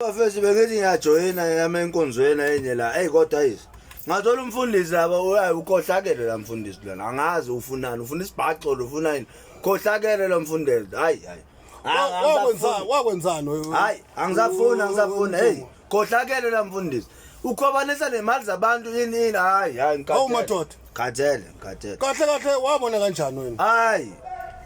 Bafethu bengithi ngiyajoyina yami enkonzweni enye la. Ey kodwa yizi. Ngathola umfundisi laba uyaye ukhohlakele la mfundisi lona. Angazi ufunani, ufuna isibhaxo lo ufuna yini. Khohlakele lo mfundisi. Hayi hayi. Wakwenzani wakwenzani? Hayi angisafuni angisafuni. Hey, khohlakele la mfundisi. ukhwabanisa nemali zabantu yini yini hayi hayi Hawu madoda. ngikhathele ngikhathele Kahle kahle wabona kanjani wena? hayi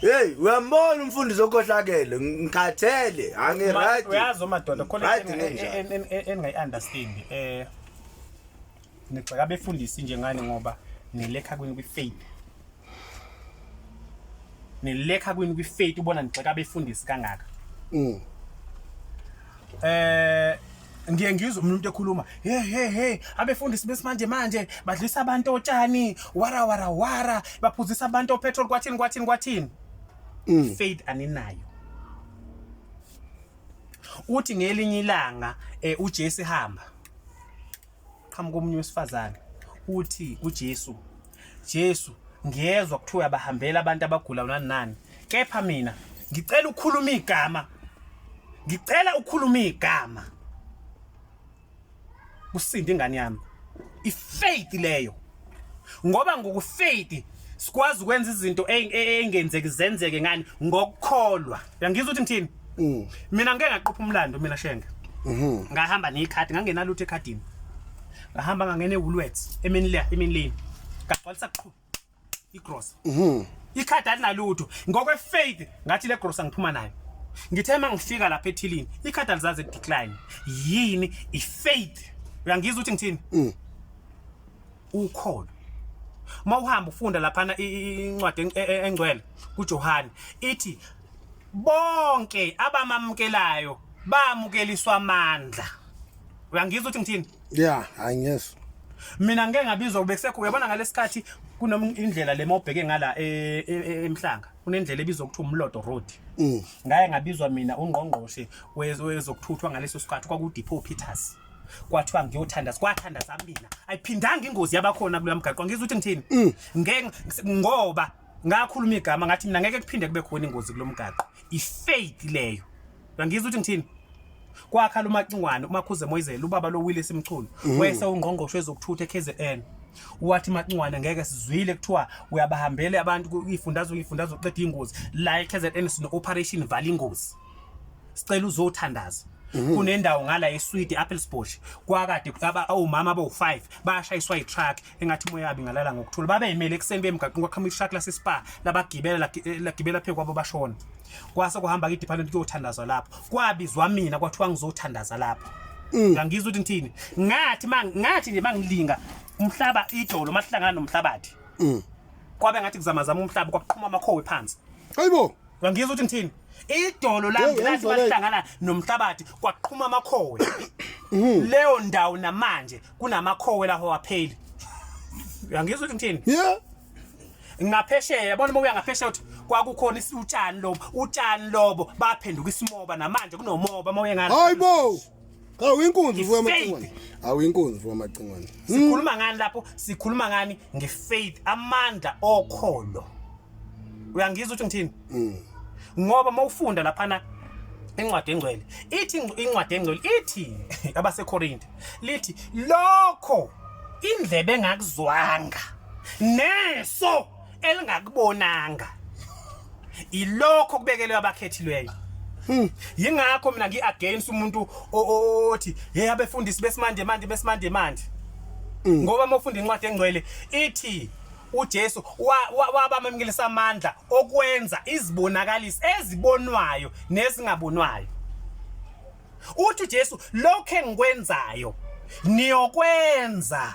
heyi uyambona umfundisi okhohlakele ngikhathele angiraydi uyazi omadoda khona Right, into enginjalo. en- en- en- engingayi-understand um nigxeka abefundisi njengani ngoba nilekha kwi-faith nilekha kwini kwi-faith ubona nigxeka abefundisi kangaka Mm. eh ngiye ngizwe umuntu ekhuluma he he he abefundisi besimanje manje badlisa abantu otshani wara wara wara baphuzisa abantu opetrol kwathini kwathini kwathini Mm. faith aninayo uthi ngelinye ilanga eh, uJesu ehamba qhamuka omunye wesifazane uthi kuJesu Jesu ngiyezwa kuthiwa abahambela abantu abagula nani nani kepha mina ngicela ukhuluma igama ngicela ukhuluma igama kusinde ingane yami ifaith leyo ngoba ngokufeyidi sikwazi ukwenza izinto e, e, engenzeki zenzeke ngani ngokukholwa uyangizwa ukuthi ngithini mm. mina ngeke ngaqopha umlando mina shenge mhm. ngahamba nekhadi ngangena lutho ekhadini ngahamba ngangena eWoolworths emini le emini leni ngagcwalisa qhu igross mhm. ikhadi alinalutho ngokwe faith ngathi le gross angiphuma nayo ngithe uma ngifika lapha ethilini ikhadi alizaze decline yini ifaith uyangizwa ukuthi ngithini mm. ukhona uma uhamba ufunda laphana incwadi e, e, engcwele kuJohane ithi bonke abamamukelayo bamukeliswa amandla uyangizwa ukuthi ngithini yeah i guess mina ngeke ngabizwa kube kusekho uyabona ngalesikhathi kunomindlela le mawubheke ngala e, e, e, emhlanga kunendlela ebizwa ukuthi umlodo road mm. ngaye ngabizwa mina ungqongqoshe wezokuthuthwa ngaleso sikhathi kwakudepot peters kwathiwa ngiyothandaza kwathandaza mina ayiphindanga ingozi yabakhona kuloya mgaqo ngizwa ukuthi ngithini mm. ngeke ngoba ngakhuluma igama ngathi mina ngeke kuphinde kube khona ingozi kulo mgaqo ifaith leyo ngizwa ukuthi ngithini kwakhala umacingwane umakhuze moyizela ubaba lo willis mchunu mm. wese ungqongqosho ezokuthutha ekzn wathi macingwane ngeke sizwile kuthiwa uyabahambele abantu ifundazwe ifundazwe uqeda ingozi la eKZN sino operation vala ingozi sicela uzothandaza mhm. kunendawo ngala eSwede Appelsbush kwakade kutaba omama abawu5 bashayiswa itruck engathi moya yabi ngalala ngokuthula babeyimele ekseni bemgaqini kwaqhamuka itruck lase spa labagibela eh, lagibela phezu kwabo bashona kwase kuhamba ke department kuyothandazwa lapho kwabizwa mina kwathiwa ngizothandaza lapho mm. ngangizwa ukuthi ngithini ngathi ngathi nje mangilinga umhlaba idolo mahlangana nomhlabathi mm. kwabe ngathi kuzamazama umhlaba kwaqhuma amakhowe phansi hayibo Uyangizwa ukuthi ngithini? Idolo lami Hey, lathi yayizwa le- bahlangana nomhlabathi kwaqhuma amakhowe. Mhm. Leyo ndawo namanje kunamakhowe laho wapheli. Uyangizwa ukuthi ngithini? Yeah. ngaphesheya yabona uma uya ngaphesheya uthi kwakukhona isi- utshani lobo utshani lobo baphenduka isimoba namanje kunomoba uma uye ngale Hayibo. Cha uyinkunzi uvuka amacingwane. Awuyinkunzi uvuka amacingwane. Hmm. Sikhuluma ngani lapho? Sikhuluma ngani ngefaith, amandla okholo. Uyangizwa ukuthi ngithini? Mm. Ngoba mawufunda laphana incwadi engcwele ithi incwadi engcwele ithi abaseKorinte lithi lokho indlebe engakuzwanga neso elingakubonanga ilokho kubekelwe abakhethileyo hmm. yingakho mina ngi-against umuntu othi ye abefundisi besimanje manje besimanje manje hmm. ngoba uma ufunda incwadi engcwele ithi uJesu wabamamkelisa amandla okwenza izibonakalisi ezibonwayo nezingabonwayo uthi uJesu lokho engikwenzayo niyokwenza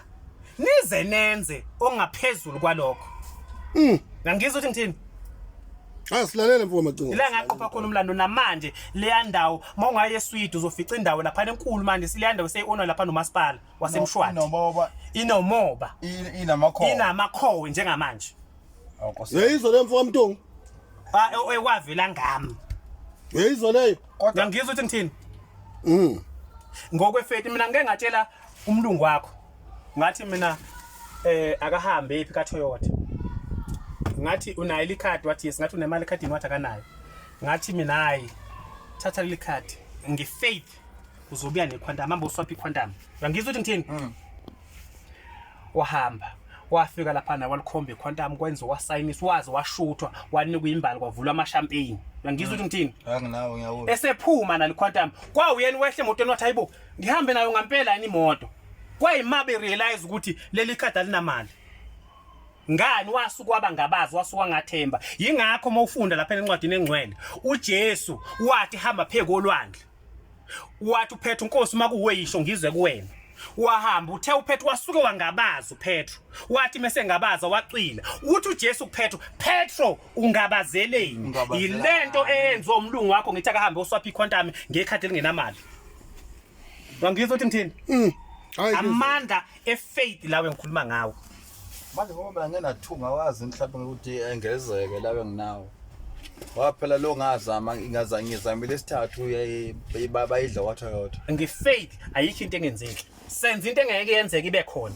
nize nenze ongaphezulu kwalokho mm ngangizwa ukuthi ngithini Asilalele mfo macingo. Ila ngaqopha khona umlando namanje leya ndawo mawungaye eSwede uzofica indawo lapha enkulu manje sileya ndawo seyiona lapha nomasipala waseMshwathi. Inomoba. Inomoba. Inamakhowe. Inamakhowe njengamanje. yeyizwa leyo mfo kamntungu ekwavela ngami yeyizwa leyo kodwa ngizwa ukuthi ngithini mm ngokwefethi mina ngeke ngatshela umlungu wakho ngathi mina eh akahambe ephi ka Toyota ngathi unayo ikhadi wathi yes ngathi unemali ekhadini wathi akanayo ngathi mina hayi thatha leli khadi ngifaith uzobuya nequantum ambe uswaphi iquantum uyangizwa ukuthi ngithini mm. wahamba wafika laphana walikhomba ikhwantamu kwenza wasayinisa waze washuthwa wanikwa imbali kwavulwa amashampeyini uyangizwa ukuthi ngithini anginawo ngiyawona esephuma nalikhwantamu kwawuyena wehle emotweni wathi hayibo ngihambe nayo ngampela yini imoto kwayima berealize ukuthi leli khadi alinamali ngani wasuke wabangabazi wasuke wangathemba yingakho uma ufunda lapha encwadini engcwele uJesu wathi hamba phekolwandle wathi uphethu nkosi uma kuwe yisho ngizwe kuwena wahamba uthe uphethu wasuke wangabaza uphethu wathi mese ngabaza wacwila uthi uJesu kuphethu Petro ungabazeleni yilento eyenziwe umlungu wakho ngithi akahambe oswaphi iquantum ngekhadi elingenamali wangizwa ukuthi ngithini mm. amandla efaith lawe ngikhuluma ngawo manje ngoba mina ngenathunga wazi mhlawumbe ngokuthi engezeke labe nginawo waphela lo ngazama ngazange ngizamile isithathu bayidla watha yodwa ngifaith ayikho into engenzeki senza into engeke yenzeke ibe khona